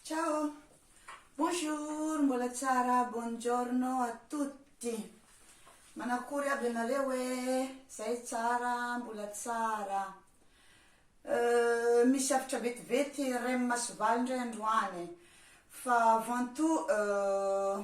Ciao, bonjour, mbola tsara, buongiorno a tutti. Manakory aby ianareo hoe zay tsara, mbola tsara. Euh, misy hafatra vetivety Rem Masovaly indray androany. Fa avant tout, euh,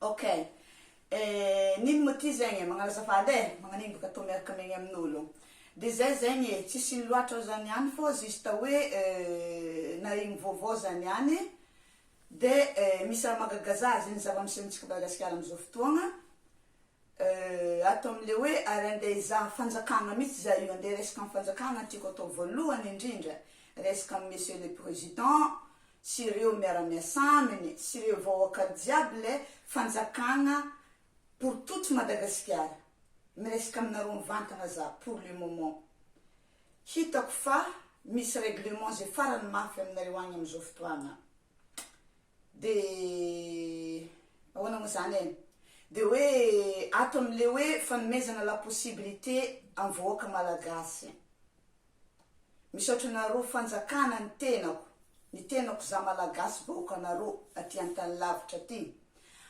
Ok eh nino mo ty zegny eh magnano azafady eh magnanigny boka tô miaraka miaigny amin'olo de zay zegny eh tsisy ino loatra zany ihany fô juste hoe nahegny vaovao zany ihany de eh misy raha magagaza azy zegny zava-misy amintsika Madagasikara amizao fotoagna. Euh ato amin'ilay hoe ary andeha hizaha fanjakana mihitsy izahay io, andeha resaka ny fanjakana no tiako atao voalohany indrindra, resaka an'i Monsieur le Président sy ireo miara-miasa aminy sy ireo vahoaka jiaby ilay fanjakana pour toute Madagasikara, miresaka aminareo mivantana za pour le moment, hitako fa misy règlement izay farany mafy aminareo agny amin'izao fotoagna. Dia ahoana moa izany e? Dia hoe ato amin'ilay hoe fanomezana la possibilité amin'ny vahoaka malagasy. Misaotra anareo fanjakana ny tenako, ny tenako za malagasy vahoakanareo aty an-tany lavitra aty.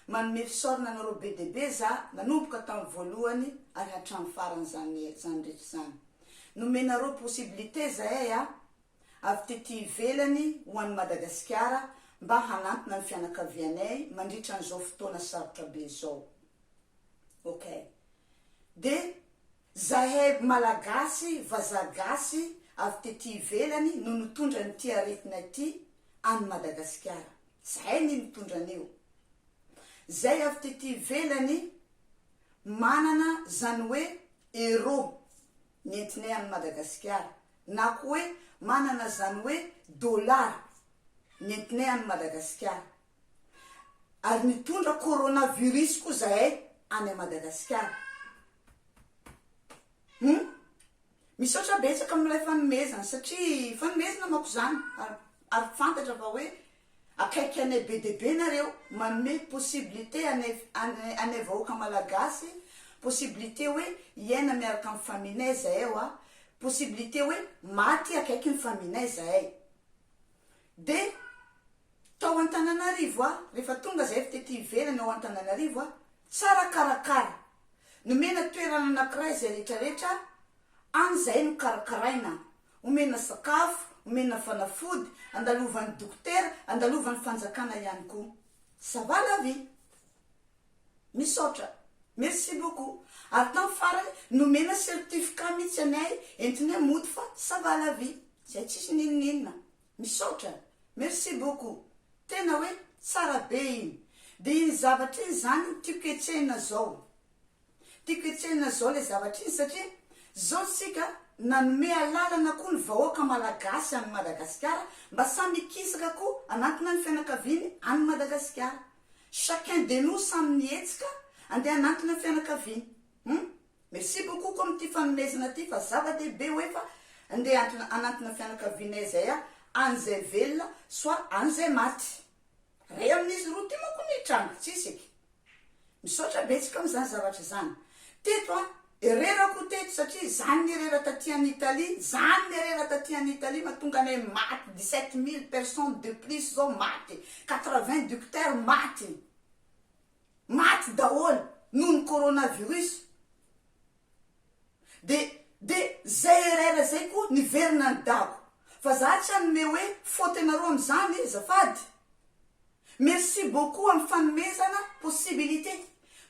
Manome fisaorana anareo be dia be za nanomboka tamin'ny voalohany ary hatramin'ny farany izany rehetra izany. Nomenareo possibilité zahay a. avy tety ivelany ho an'i Madagasikara mba hanantona ny fianakavianay mandritra an'izao fotoana sarotra be izao. Ok. Dia zahay Malagasy, vazaha gasy avy tety ivelany no nitondra an'ity aretina ity any Madagasikara. Zahay ny nitondra an'io. Zay avy tety ivelany manana izany hoe euro nentinay any Madagasikara na koa hoe manana izany hoe dollars nentinay any Madagasikara. Ary nitondra coronavirus koa izahay any Madagasikara. Hum. Misaotra betsaka amin'ilay fanomezana satria fanomezana manko izany ary fantatra fa hoe Akaiky anay be dia be nareo, manome possibilité anay anay vahoaka malagasy, possibilité hoe hiaina miaraka amin'ny famille-nay zahay wa, possibilité hoe maty akaiky ny famille-nay zahay. Dia tao Antananarivo wa, rehefa tonga zahay avy tety ivelany ao Antananarivo wa, tsara karakara, nomena toerana anakiray izay rehetra rehetra any zahay nokarakaraina, Omena sakafo, omena fanafody, andalovan'ny dokotera, andalovan'ny fanjakana ihany koa. Ça va la vie. Misaotra. Merci beaucoup. Ary tamin'ny farany nomena certificat mihitsy anay entinay mody fa ça va la vie. Izay tsisy n'inon'inona. Misaotra. Merci beaucoup. Tena hoe tsara be iny. Dia iny zavatra iny izany no tiako hetsehina izao. Tiako hetsehina zao le zavatra iny satria zao tsika nanome alalana koa ny vahoaka malagasy any Madagasikara mba samy hikisaka koa anatina ny fianakaviany any Madagasikara. Chacun de nous samy ny hetsika andeha anatina fianakaviany. Hum. Merci beaucoup koa amin'ity fanomezana ty fa zava dehibe hoe fa andeha anatina fianakavianay zay a any zay velona soit any zay maty. Ray amin'izy roa ty manko no hitranga. Tsisy eky. Misaotra betsaka am zany zavatra zany. Teto a, erreur ko teto satria zany ny erreur taty an Italie, zany ny erreur taty an Italie mahatonga anay maty dix sept mille personnes de plus zao maty, quatre vingt ducteurs maty, maty daholo noho ny coronavirus. De de zay erreur zay koa niverina any dago fa za tsy hanome hoe faute nareo amzany e zafady. Merci beaucoup am fanomezana possibilité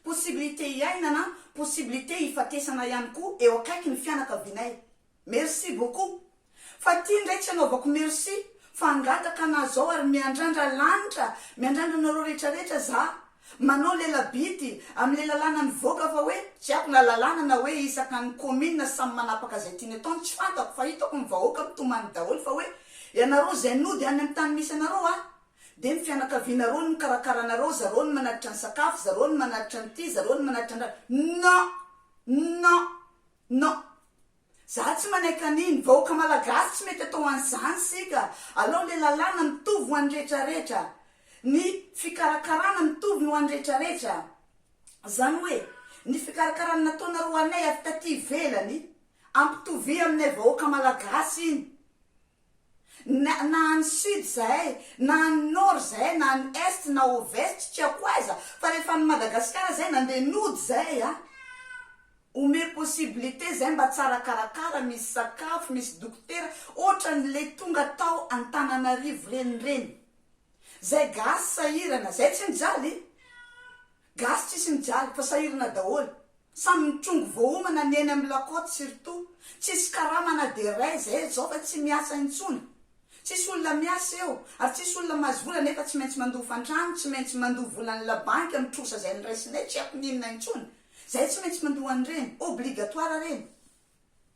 possibilité hiainana possibilité hifatesana ihany koa eo akaiky ny fianakavianay. Merci beaucoup. Fa ty ndray tsy anaovako merci fa hangataka anah zao ary miandrandra lanitra miandrandra anareo rehetra rehetra zah manao lela bidy amle lalàna nivoaka fa hoe tsy haiko na lalàna na hoe isaka ny commune samy manapaka zay tiany ataony tsy fantako fa hitako ny vahoaka mitomany daholo fa hoe ianareo zay nody any am tany misy anareo a de ny fianakavianareo no mikarakara anareo zareo no manatitra ny sakafo zareo no manatitra ny ty zareo no manatitra andrana non non non Za tsy manaiky aniny, vahoaka malagasy tsy mety atao an'izany sika, alao le lalàna mitovy ho an'ny rehetra rehetra, ny fikarakarana mitovy ny ho an'ny rehetra rehetra, zany hoe ny fikarakarana nataonareo ho anay avy taty ivelany, ampitovia aminay vahoaka malagasy iny. na any sud zahay na any nord zahay na any est na ovest tsy ako aiza fa rehefa any Madagascar zay nande nody zahay a omeo possibilité zahay mba tsara karakara misy sakafo misy dokotera otrany le tonga tao Antananarivo reny reny zay gasy sahirana zay tsy mijaly Gasy tsisy mijaly fa sahirana daholo, samy mitrongy voahomana ny eny amin'ny la côte surtout, tsisy karama na dia ray zay eto zao fa tsy miasa intsony, tsisy olona miasa eo ary tsisy olona mahazo vola nefa tsy maintsy mandoa fantrano, tsy maintsy mandoa volan'ny la banque amin'ny trosa zay niraisinay tsy haiko n'inona intsony, zay tsy maintsy mandoa an'ireny, obligatoire reny.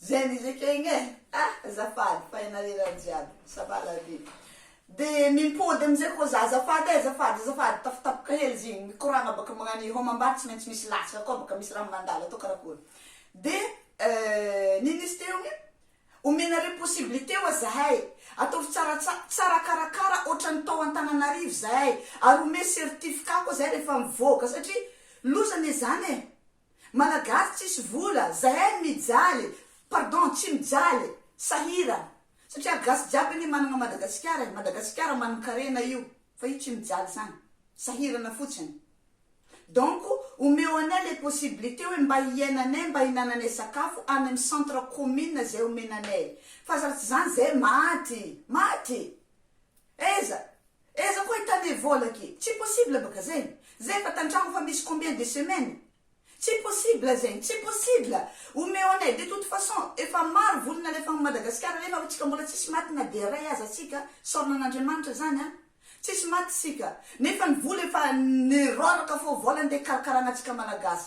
Zay mizika igny e! Ha azafady fa ianareo raha jiaby ça va la vie de mimpody amizay koa za azafady e azafady azafady tafatapoka hely izy igny mikoragna baka magnan'io hao mambady tsy maintsy misy latsaka koa baka misy raha mandalo atao karakory de nino izy teo igny omenareo possibilité oa zahay ataovy tsaratsara tsara karakara otrany tao Antananarivo zahay ary omeo certificat koa zahay rehefa mivoaka satria loza anie zany e! Malagasy tsisy vola zahay mijaly pardon tsy mijaly sahirana satria gasy jiaby anie managna madagasikara e madagasikara manankarena io fa io tsy mijaly zany sahirana fotsiny donc omeo anay le possibilité oe mba hiainanay mba hinananay sakafo any am centre commune zay omenanay fa zara tsy zany zahay maty maty aiza Eza koa hitane vola ke. Tsy possible baka zegny. Zay efa tantragno fa misy combien de semaine. Tsy possible zegny. Tsy possible. Omeo anay. De toute façon efa maro voly nalefagny Madagascar nefa hotsika mbola tsisy maty na dia ray aza tsika. Saorina an'Andriamanitra zany an. Tsisy maty tsika. Nefa ny vola efa nirôraka fô vola nde karakaragna tsika Malagasy.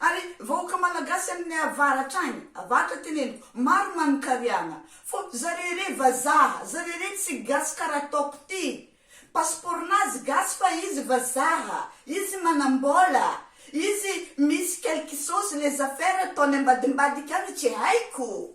Ary vahoaka malagasy aminy avaratra agny, avaratra teneniko, maro manonkariagna, fô zare re vazaha, zare re tsy gasy kara ataoko ty, passeport nazy gasy fa izy vazaha, izy manambôla, izy misy quelque chose les affaires ataony ambadimbadika agny tsy haiko.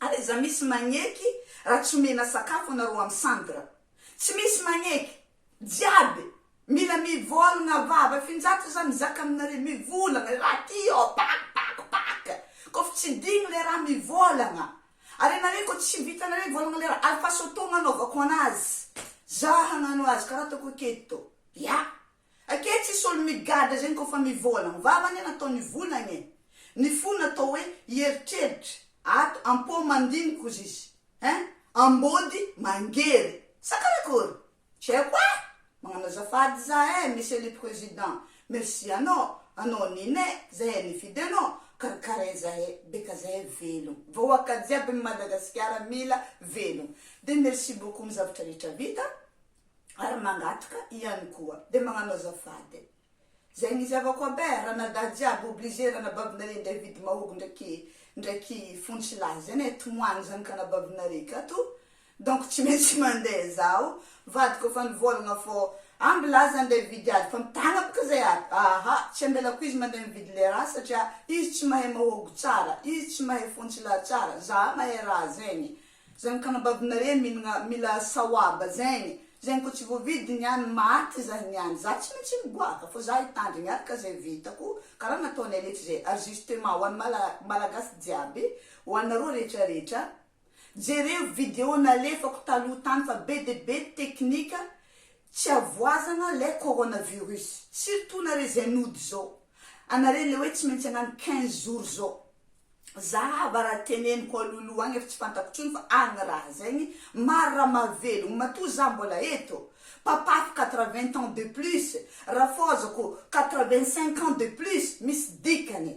Ary aiza misy magneky raha tsy omena sakafo anareo am centre. Tsy misy magneky. Jiaby. Mila mivolagna vava finjato za mizaka aminare mivolagna raha ty ô pak pak pak kof tsy digny le raha mivolagna are nare ko tsy vitanare volagna le raha alfa sotoagna anaovako anazy za hagnano azy karaha ataoko aketo ya Ake tsy solo migadra zegny kô fa mivoala ny vava anie natao nivolagna e ny fo natao hoe hieritreritra ato ampô mandiniky ozy izy hein ambôdy mangery sa karakory tsy haiko e magnano azafady za e monsieur le president merci anô anô nine zahe nifidy anô karakarain zahe beka zahe velogno vahoaka jiaby ny madagasikara mila velogno de merci beaucoup am zavatra rehetra vita ary mangataka ihany koa dia magnano azafady zay ny zahavako aby eh ranadahy jiaby obliger ranabavinaré indray vidy mahogo ndraiky ndraiky fontsilahy zay ne tomoagny zanakanabavinaréy ka to donc tsy maintsy mande zaho vadiko efa nivolagna fô amby laza nde vidy ady fa mitagna boka zay aby aaha tsy ambelako izy mande mividy le raha satria izy tsy mahay mahogo tsara izy tsy mahay fontsilahy tsara zaha mahay raha zegny Zany ka anababinareo minagna mila sawaba zegny, zegny ko tsy voavidy niany maty zah niany zah tsy mintsy miboaka fô zah hitandrigny araka zay vitako karaha nataonay rehetra zay ajustement ho any malagasy jiaby ho anareo rehetra rehetra jereo video nalefako taloha tany fa be de be teknika tsy avoazagna lay coronavirus surtout nare zay nody zao anare le hoe tsy mintsy agnano quinze jours zao Za hava raha teneniko alohaloha agny efa tsy fantako tsony fa agny raha zegny maro raha mahavelogno matoa za mbola eto papako quatre vingt ans de plus rafôzako quatre vingt cinq ans de plus misy dikany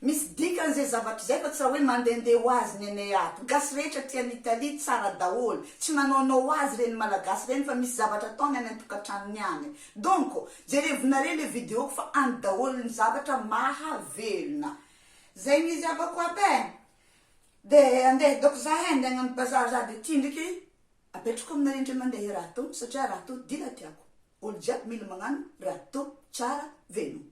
misy dikany zay zavatra zay fa tsy raha hoe mandende ho azy ny anay ato gasy rehetra ty any Italie tsara daholo tsy manaonao ho azy reny malagasy reny fa misy zavatra ataony any antokatragnony agny donc jerevonare le videoko fa any daholo ny zavatra mahavelona Zay ny izy avoko aby e! De andeha hidaoko za he, andeha hagnano bazary za de ty ndriky apetrako amina rindry mandeha raha to satria raha to dila tiako, olo jiaby mila magnano raha to tsara veloma.